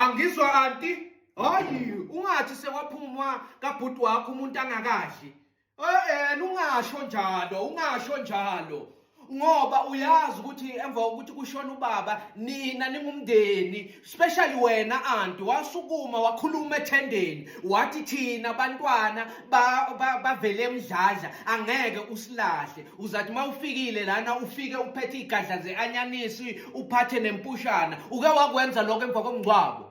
angizwa anti hayi ungathi sewaphumwa kabhuti wakho umuntu angakadli eh ungasho njalo ungasho njalo ngoba uyazi ukuthi emva kokuthi kushona ubaba nina ningumndeni especially wena anti wasukuma wakhuluma ethendeni wathi thina bantwana bavele emdladla angeke usilahle uzathi uma ufikile lana ufike uphethe igadla ze-anyanisi uphathe nempushana uke wakwenza lokho emva komngcwabo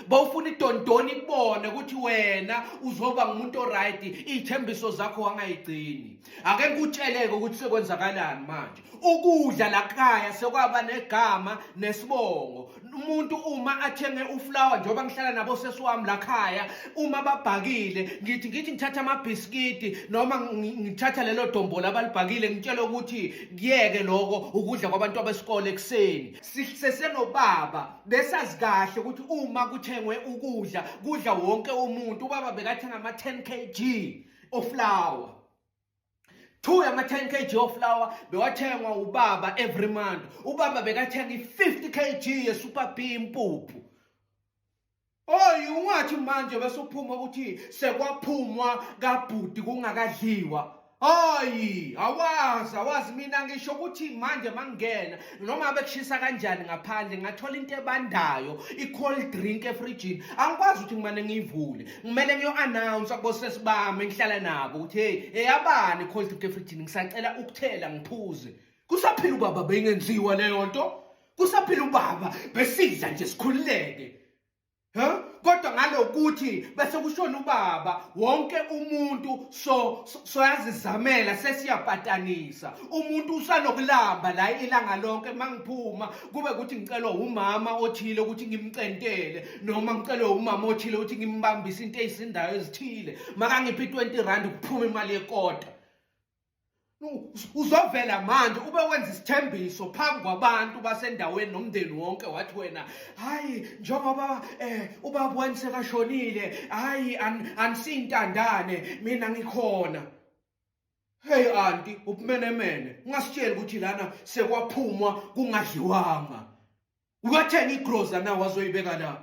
bawufuna idondoni ibone ukuthi wena uzoba ngumuntu oright iy'thembiso zakho wangayigcini ake ngikutsheleke ukuthi sekwenzakalani manje ukudla lakhaya sekwaba negama nesibongo umuntu uma athenge uflower njengoba ngihlala nabo sesi wami lakhaya uma babhakile ngithi ngithi ngithatha amabhiskidi noma ngithatha lelo dombola abalibhakile ngitshele ukuthi kuyeke lokho ukudla kwabantu abesikole ekuseni sisesenobaba besazi kahle ukuthi uma kuthengwe ukudla kudla wonke umuntu ubaba bekathenga ama-10 kg oflower two yama-10 kg oflower bewathengwa ubaba every month ubaba bekathenga i-50 kg yesuper b impuphu Oy ungathi manje bese uphuma ukuthi sekwaphumwa kabhuti kungakadliwa. Hayi, awazi, awazi mina ngisho ukuthi manje mangena noma bekushisa kanjani ngaphandle ngathola into ebandayo, i-cold drink efrijini. Angikwazi ukuthi ngimane ngiyivule. Ngimele ngiyo-announce kubosesi bami engihlala nabo ukuthi hey, eyabani i-cold drink efrijini ngisacela ukuthela ngiphuze. kusaphila ubaba beyingenziwa leyo nto kusaphila ubaba besidla nje sikhululeke ha kodwa ngalokuthi bese kushona ubaba wonke umuntu so soyazizamela sesiyapatanisa umuntu usanokulamba la ilanga lonke mangiphuma kube ukuthi ngicelwa umama othile ukuthi ngimcentele noma ngicelwe umama othile ukuthi ngimbambise into ezisindayo ezithile makangiphi 20 rand kuphuma imali yekota uzovela manje ube wenza isithembiso phambi kwabantu basendaweni nomndeni wonke wathi wena hayi njengoba eh ubaba wami sekashonile hayi anisintandane mina ngikhona hey anti ubumenemene ungasitsheli ukuthi lana sekwaphumwa kungadliwanga ukatheni igroza na wazoyibeka la